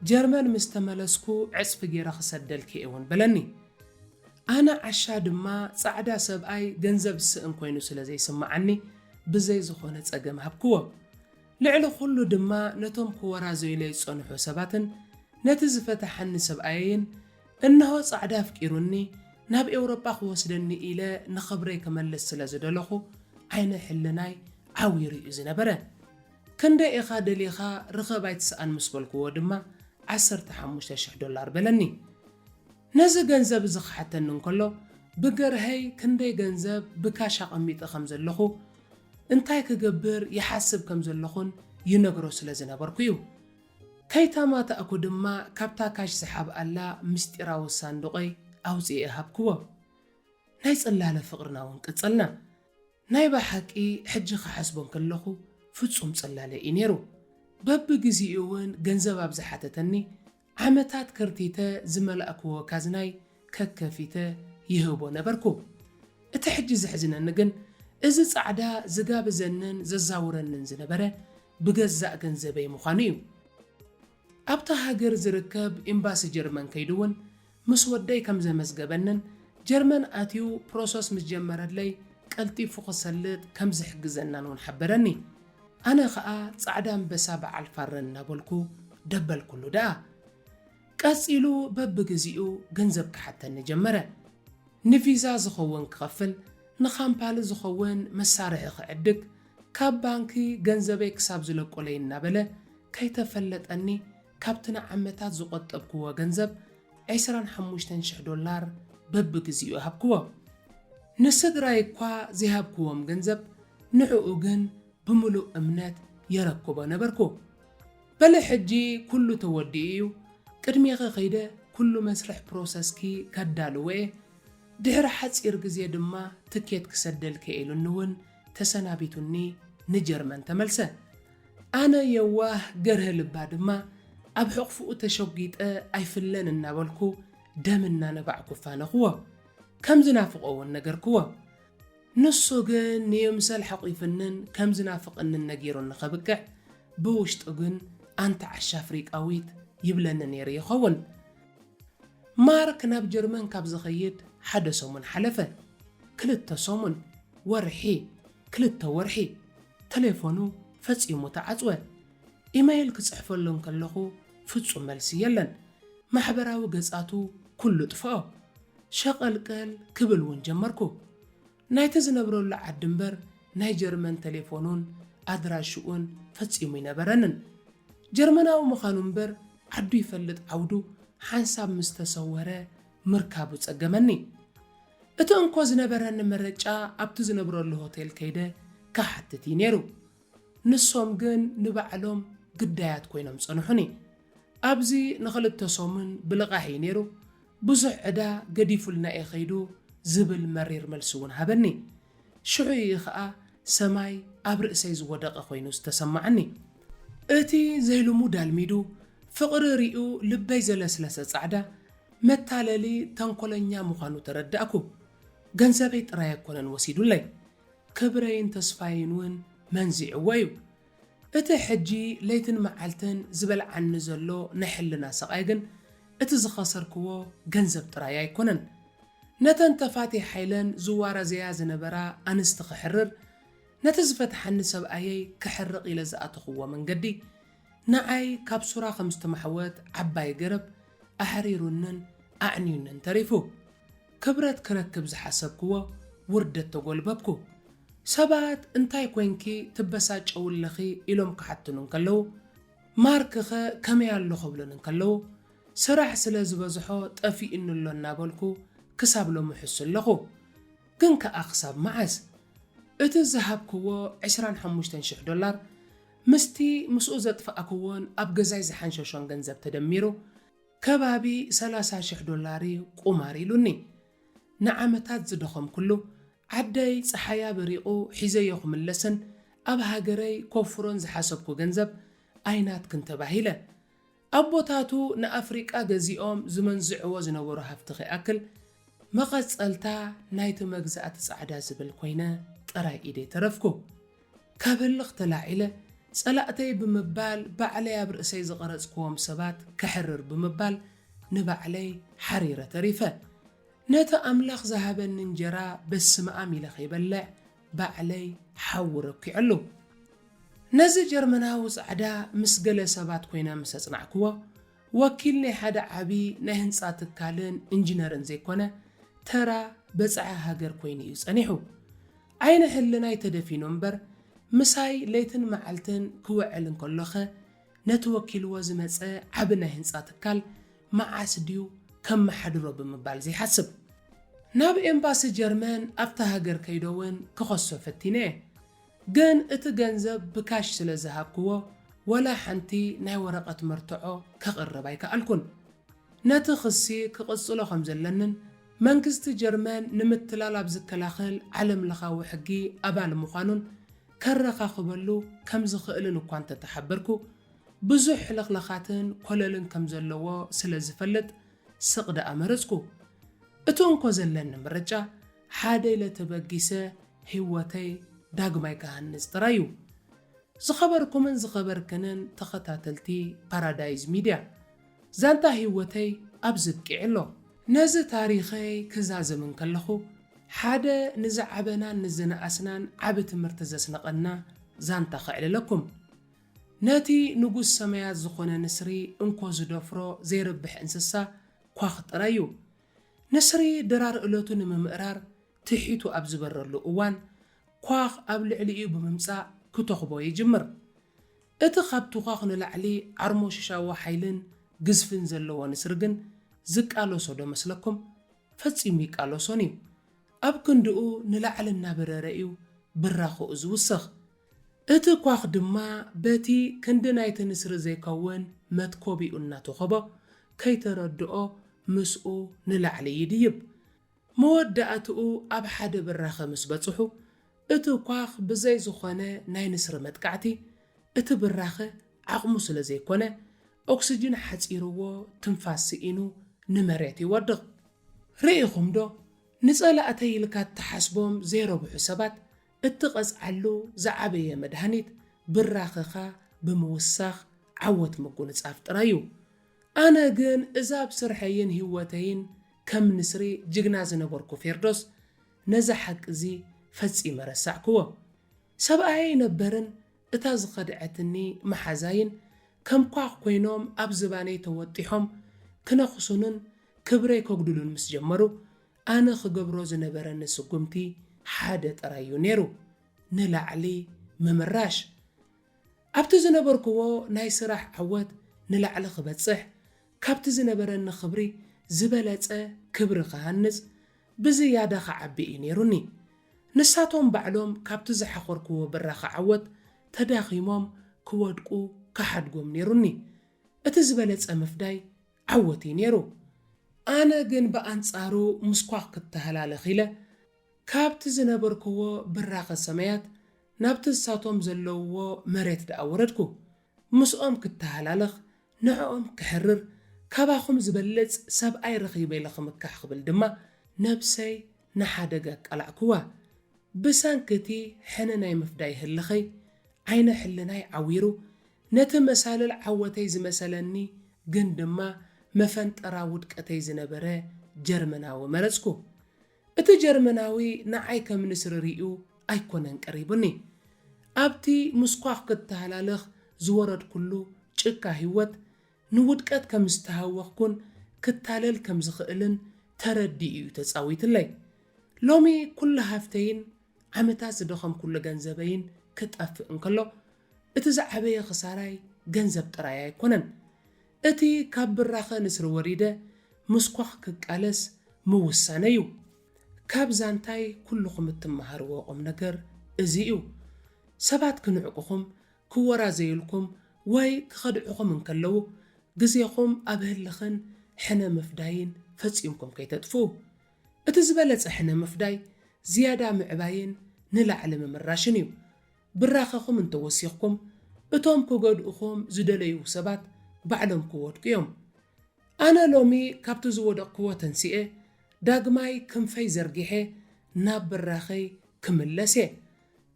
ጀርመን ምስ ተመለስኩ ዕጽፊ ገይረ ክሰደልኪ'የ እውን በለኒ። ኣነ ዓሻ ድማ ጻዕዳ ሰብኣይ ገንዘብ ዝስእን ኮይኑ ስለ ዘይስምዓኒ ብዘይ ዝኾነ ጸገም ሃብክዎ። ልዕሊ ኩሉ ድማ ነቶም ክወራዘዩለይ ዝጸንሑ ሰባትን ነቲ ዝፈታሓኒ ሰብኣየይን እንሆ ጻዕዳ ኣፍቂሩኒ ናብ ኤውሮጳ ክወስደኒ ኢለ ንኽብረይ ክመልስ ስለ ዝደለኹ ዓይነ ሕልናይ ዓዊሩ እዩ ዝነበረ። ክንደይ ኢኻ ደሊኻ ርኸብ ኣይትስኣን ምስ በልኩዎ ድማ ዓሰርተ ሓሙሽተ ሽሕ ዶላር በለኒ። ነዚ ገንዘብ እዚ ክሓተኒ እንከሎ ብገርሀይ ክንደይ ገንዘብ ብካሽ ኣቐሚጠ ከም ዘለኹ እንታይ ክገብር ይሓስብ ከም ዘለኹን ይነግሮ ስለ ዝነበርኩ እዩ። ከይተማታእኩ ድማ ካብታ ካሽ ዝሓብኣላ ምስጢራዊ ሳንዱቐይ ኣውጺኤ ሃብክዎም። ናይ ጽላለ ፍቕርና እውን ቀጸልና። ናይ በሓቂ ሕጂ ክሓስቦ እንከለኹ ፍጹም ጽላለ እዩ ነይሩ። በብግዜኡ እውን ገንዘብ ኣብ ዝሓተተኒ ዓመታት ከርቲተ ዝመላእክዎ ካዝናይ ከከፊተ ይህቦ ነበርኩ። እቲ ሕጂ ዘሕዝነኒ ግን እዚ ጻዕዳ ዝጋብዘንን ዘዛውረንን ዝነበረ ብገዛእ ገንዘበይ ምዃኑ እዩ። ኣብታ ሃገር ዝርከብ ኤምባሲ ጀርመን ከይዱ እውን ምስ ወደይ ከም ዘመዝገበንን ጀርመን ኣትዩ ፕሮሰስ ምስ ጀመረለይ ቀልጢፉ ክሰልጥ ከም ዝሕግዘናን እውን ሓበረኒ። ኣነ ከኣ ጻዕዳ ኣንበሳ በዓል ፋረ እናበልኩ ደበልኩሉ ደኣ። ቀጺሉ በብግዜኡ ገንዘብ ክሓተኒ ጀመረ። ንቪዛ ዝኸውን ክኸፍል፣ ንካምፓኒ ዝኸውን መሳርሒ ክዕድግ፣ ካብ ባንኪ ገንዘበይ ክሳብ ዝለቆለይ እናበለ ከይተፈለጠኒ ካብቲ ንዓመታት ዝቖጠብክዎ ገንዘብ ዕስራን ሓሙሽተን ሽሕ ዶላር በብግዜኡ ሃብክዎ። ንስድራይ እኳ ዘይሃብክዎም ገንዘብ ንዕኡ ግን ብምሉእ እምነት የረክቦ ነበርኩ። በለ ሕጂ ኩሉ ተወዲኡ እዩ ቅድሜኺ ከይደ ኩሉ መስርሕ ፕሮሰስኪ ከዳልዎ እየ ድሕሪ ሓጺር ግዜ ድማ ትኬት ክሰደልኪ'የ ኢሉኒ ውን ተሰናቢቱኒ ንጀርመን ተመልሰ ኣነ የዋህ ገርህ ልባ ድማ ኣብ ሕቕፍኡ ተሸጒጠ ኣይፍለን እናበልኩ ደም እናነባዕኩ ኣፋነኹዎ ከም ዝናፍቖ ውን ነገርክዎ ንሱ ግን ንይምሰል ሐቚፍንን ከም ዝናፍቐንን ነጊሩኒ ከብቅዕ፣ ብውሽጡ ግን ኣንቲ ዓሻ ኣፍሪቃዊት ይብለኒ ነይሩ ይኸውን። ማርክ ናብ ጀርመን ካብ ዝኸይድ ሓደ ሰሙን ሓለፈ። ክልተ ሰሙን፣ ወርሒ፣ ክልተ ወርሒ። ተሌፎኑ ፈጺሙ ተዓጽወ። ኢመይል ክጽሕፈሉ እንከለኹ ፍጹም መልሲ የለን። ማሕበራዊ ገጻቱ ኩሉ ጥፍኦ። ሸቐልቀል ክብል እውን ጀመርኩ። ናይቲ ዝነብረሉ ዓዲ እምበር ናይ ጀርመን ተሌፎኑን ኣድራሽኡን ፈጺሙ ኣይነበረንን። ጀርመናዊ ምኻኑ እምበር ዓዱ ይፈልጥ ዓውዱ ሓንሳብ ምስ ተሰወረ ምርካቡ ጸገመኒ። እቲ እንኮ ዝነበረኒ መረጫ ኣብቲ ዝነብረሉ ሆቴል ከይደ ክሓትት እዩ ነይሩ። ንሶም ግን ንባዕሎም ግዳያት ኮይኖም ጸንሑኒ። ኣብዚ ንኽልተ ሰሙን ብልቓሕ እዩ ነይሩ፣ ብዙሕ ዕዳ ገዲፉልና እዩ ከይዱ ዝብል መሪር መልሲ እውን ሃበኒ። ሽዑ እዩ ከኣ ሰማይ ኣብ ርእሰይ ዝወደቐ ኮይኑ ዝተሰማዓኒ። እቲ ዘይልሙድ ኣልሚዱ ፍቕሪ ሪኡ ልበይ ዘለስለሰ ጻዕዳ መታለሊ ተንኮለኛ ምዃኑ ተረዳእኩ። ገንዘበይ ጥራይ ኣይኮነን ወሲዱለይ። ክብረይን ተስፋይን ውን መንዚዕዎ ዩ። እቲ ሕጂ ለይትን መዓልትን ዝበልዓኒ ዘሎ ናይ ሕልና ስቓይ ግን እቲ ዝኸሰርክዎ ገንዘብ ጥራይ ኣይኮነን። ነተን ተፋትየ ሓይለን ዝዋራዘያ ዝነበራ ኣንስቲ ክሕርር፣ ነቲ ዝፈትሓኒ ሰብኣየይ ከሕርቕ ኢለ ዝኣተኹዎ መንገዲ፣ ንዓይ ካብ ሱራ ከም ዝተማሕወት ዓባይ ገረብ፣ ኣሕሪሩንን ኣዕንዩንን ተሪፉ። ክብረት ክረክብ ዝሓሰብክዎ ውርደት ተጎልበብኩ። ሰባት እንታይ ኮይንኪ ትበሳጨውለኺ ኢሎም ክሓትኑ እንከለዉ፣ ማርክኸ ከመይ ኣሎ ክብሉኒ እንከለዉ፣ ስራሕ ስለ ዝበዝሖ ጠፊኡኒ ኣሎ እናበልኩ ክሳብ ሎሚ እሕሱ ኣለኹ። ግን ከኣ ክሳብ መዓስ? እቲ ዝሃብክዎ ዕስራን ሓሙሽተን ሽሕ ዶላር፣ ምስቲ ምስኡ ዘጥፋእክዎን ኣብ ገዛይ ዝሓንሸሾን ገንዘብ ተደሚሩ ከባቢ ሰላሳ ሽሕ ዶላር'ዩ ቁማር ኢሉኒ። ንዓመታት ዝደኸምኩሉ፣ ዓደይ ጸሓያ በሪቑ ሒዘዮ ክምለስን ኣብ ሃገረይ ከውፍሮን ዝሓሰብኩ ገንዘብ ኣይናትክን ተባሂለ። ኣቦታቱ ንኣፍሪቃ ገዚኦም ዝመንዝዕዎ ዝነበሩ ሃብቲ ከይኣክል መቐጸልታ ናይቲ መግዛእቲ ጻዕዳ ዝብል ኮይነ ጥራይ ኢደ ተረፍኩ። ካብ ህልኽ ተላዒለ ጸላእተይ ብምባል ባዕለይ ኣብ ርእሰይ ዝቐረጽኩዎም ሰባት ከሕርር ብምባል ንባዕለይ ሓሪረ ተሪፈ። ነቲ ኣምላኽ ዝሃበኒ እንጀራ በስመኣም ኢለ ከይበልዕ ባዕለይ ሓዊ ረኪዐሉ። ነዚ ጀርመናዊ ጻዕዳ ምስ ገለ ሰባት ኮይነ ምስ ኣጽናዕክዎ፣ ወኪል ናይ ሓደ ዓቢ ናይ ህንጻ ትካልን እንጂነርን ዘይኮነ፣ ተራ በጻሒ ሃገር ኮይኑ እዩ ጸኒሑ። ዓይነ ህልናይ ተደፊኑ እምበር፣ ምሳይ ለይትን መዓልትን ክውዕል እንከሎኸ፣ ነቲ ወኪልዎ ዝመጸ ዓቢ ናይ ህንጻ ትካል መዓስ ድዩ ከመሓድሮ ብምባል ዘይሓስብ። ናብ ኤምባሲ ጀርመን ኣብታ ሃገር ከይዶ ውን ክኸሶ ፈቲነ እየ። ግን እቲ ገንዘብ ብካሽ ስለ ዝሃብክዎ ወላ ሓንቲ ናይ ወረቐት መርትዖ ከቕርብ ኣይከኣልኩን። ነቲ ክሲ ክቕጽሎ ከም ዘለንን መንግስቲ ጀርመን ንምትላል ኣብ ዝከላኸል ዓለምለኻዊ ሕጊ ኣባል ምዃኑን ከረኻኽበሉ ከም ዝኽእልን እኳ እንተ ተሓበርኩ፣ ብዙሕ ሕልኽላኻትን ኮለልን ከም ዘለዎ ስለ ዝፈልጥ ስቕ ደኣ መረጽኩ። እቲ እንኮ ዘለኒ ምርጫ፣ ሓደ ኢለ ተበጊሰ ህይወተይ ዳግማይ ክሃንጽ ጥራይ እዩ። ዝኸበርኩምን ዝኸበርክንን ተኸታተልቲ ፓራዳይዝ ሚድያ! ዛንታ ህይወተይ ኣብዚ ኣብቂዑ ኣሎ። ነዚ ታሪኸይ ክዛዝም እንከለኹ፣ ሓደ ንዝዓበናን ንዝነኣስናን ዓቢ ትምህርቲ ዘስነቐና ዛንታ ከዕልለኩም። ነቲ ንጉስ ሰማያት ዝኾነ ንስሪ እንኮ ዝደፍሮ ዘይርብሕ እንስሳ ኳኽ ጥራይ እዩ። ንስሪ ድራር እለቱ ንምምእራር ትሒቱ ኣብ ዝበረሉ እዋን፣ ኳኽ ኣብ ልዕሊኡ ብምምጻእ ክተኹቦ ይጅምር። እቲ ካብ ቱዃኽ ንላዕሊ ዓርሞሽሻዊ ሓይልን ግዝፍን ዘለዎ ንስሪ ግን ዝቃለሶ ዶ መስለኩም? ፈጺሙ ይቃለሶን እዩ። ኣብ ክንድኡ ንላዕሊ እናበረረ እዩ ብራኸኡ ዝውስኽ። እቲ ኳኽ ድማ በቲ ክንዲ ናይቲ ንስሪ ዘይከውን መትኮቢኡ እናተኾቦ ከይተረድኦ ምስኡ ንላዕሊ ይድይብ። መወዳእትኡ ኣብ ሓደ ብራኸ ምስ በጽሑ፣ እቲ ኳኽ ብዘይ ዝኾነ ናይ ንስሪ መጥቃዕቲ፣ እቲ ብራኸ ዓቕሙ ስለ ዘይኮነ፣ ኦክስጅን ሓጺርዎ ትንፋስ ስኢኑ ንመሬት ይወድቕ። ርኢኹምዶ፣ ንጸላእተይ ኢልካ እትሓስቦም ዘይረብሑ ሰባት እትቐጽዓሉ ዝዓበየ መድሃኒት፣ ብራኸኻ ብምውሳኽ ዓወት ምጉንጻፍ ጥራይ እዩ። ኣነ ግን እዛ ኣብ ስርሐይን ሂወተይን ከም ንስሪ ጅግና ዝነበርኩ ፌርዶስ ነዚ ሓቂ እዚ ፈጺመ ረሳዕክዎ። ሰብኣየይ ኣይነበርን እታ ዝኸድዐትኒ መሓዛይን ከም ኳኽ ኮይኖም ኣብ ዝባነይ ተወጢሖም ክነኽሱንን ክብረይ ከጉድሉን ምስ ጀመሩ ኣነ ክገብሮ ዝነበረኒ ስጉምቲ ሓደ ጥራይ እዩ ነይሩ ንላዕሊ ምምራሽ። ኣብቲ ዝነበርክዎ ናይ ስራሕ ዓወት ንላዕሊ ክበጽሕ፣ ካብቲ ዝነበረኒ ክብሪ ዝበለጸ ክብሪ ክሃንጽ፣ ብዝያዳ ክዓቢ እዩ ነይሩኒ። ንሳቶም ባዕሎም ካብቲ ዝሓኾርክዎ ብራኸ ዓወት ተዳኺሞም ክወድቁ ክሓድጎም ነይሩኒ። እቲ ዝበለጸ ምፍዳይ ዓወት እዩ ነይሩ። ኣነ ግን ብኣንጻሩ ምስኳ ክተሃላለኽ ኢለ፣ ካብቲ ዝነበርክዎ ብራኸ ሰማያት ናብቲ ንሳቶም ዘለውዎ መሬት ደኣ ወረድኩ፣ ምስኦም ክተሃላለኽ፣ ንዕኦም ከሕርር፣ ካባኹም ዝበልጽ ሰብኣይ ረኺበ ኢለ ክምካሕ ክብል ድማ ነብሰይ ንሓደጋ ኣቃላዕክዋ። ብሰንኪ እቲ ሕነ ናይ ምፍዳይ ህልኸይ፣ ዓይነ ሕልናይ ዓዊሩ፣ ነቲ መሳልል ዓወተይ ዝመሰለኒ ግን ድማ መፈንጠራ ውድቀተይ ዝነበረ ጀርመናዊ መረጽኩ። እቲ ጀርመናዊ ንዓይ ከም ንስሪ ርእዩ ኣይኮነን ቀሪቡኒ። ኣብቲ ምስኳኽ ክተሃላለኽ ዝወረድኩሉ ጭቃ ህይወት፣ ንውድቀት ከም ዝተሃወኽኩን ክታለል ከም ዝኽእልን ተረዲኡ'ዩ ተጻዊትለይ። ሎሚ ኩሉ ሃፍተይን ዓመታት ዝደኸምኩሉ ገንዘበይን ክጠፍእ እንከሎ፣ እቲ ዝዓበየ ክሳራይ ገንዘብ ጥራይ ኣይኮነን። እቲ ካብ ብራኸ ንስሪ ወሪደ ምስ ኳኽ ክቃለስ ምውሳነይ እዩ። ካብ ዛንታይ ኩሉኹም እትመሃርዎ ቁምነገር እዚ እዩ። ሰባት ክንዕቁኹም፣ ክወራዘዩልኩም ወይ ክኸድዕኹም እንከለዉ ግዜኹም ኣብ ህልኽን ሕነ ምፍዳይን ፈጺምኩም ከይተጥፍኡ። እቲ ዝበለጸ ሕነ ምፍዳይ ዝያዳ ምዕባይን ንላዕሊ ምምራሽን እዩ። ብራኸኹም እንተወሲኽኩም እቶም ክጎድኡኹም ዝደለዩ ሰባት ባዕሎም ክወድቁ እዮም። ኣነ ሎሚ ካብቲ ዝወደቕክዎ ተንሲኤ ዳግማይ ክንፈይ ዘርጊሐ ናብ ብራኸይ ክምለስ እየ።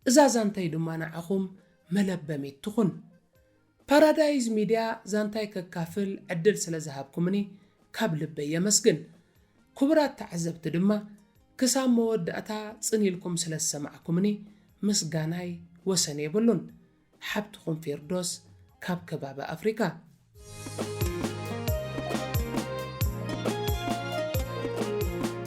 እዛ ዛንታይ ድማ ንዓኹም መለበሚት ትኹን። ፓራዳይዝ ሚድያ ዛንታይ ከካፍል ዕድል ስለ ዝሃብኩምኒ ካብ ልበይ የመስግን። ክቡራት ተዓዘብቲ ድማ ክሳብ መወዳእታ ጽን ኢልኩም ስለ ዝሰማዕኩምኒ ምስጋናይ ወሰን የብሉን። ሓብትኹም ፌርዶስ ካብ ከባቢ ኣፍሪካ።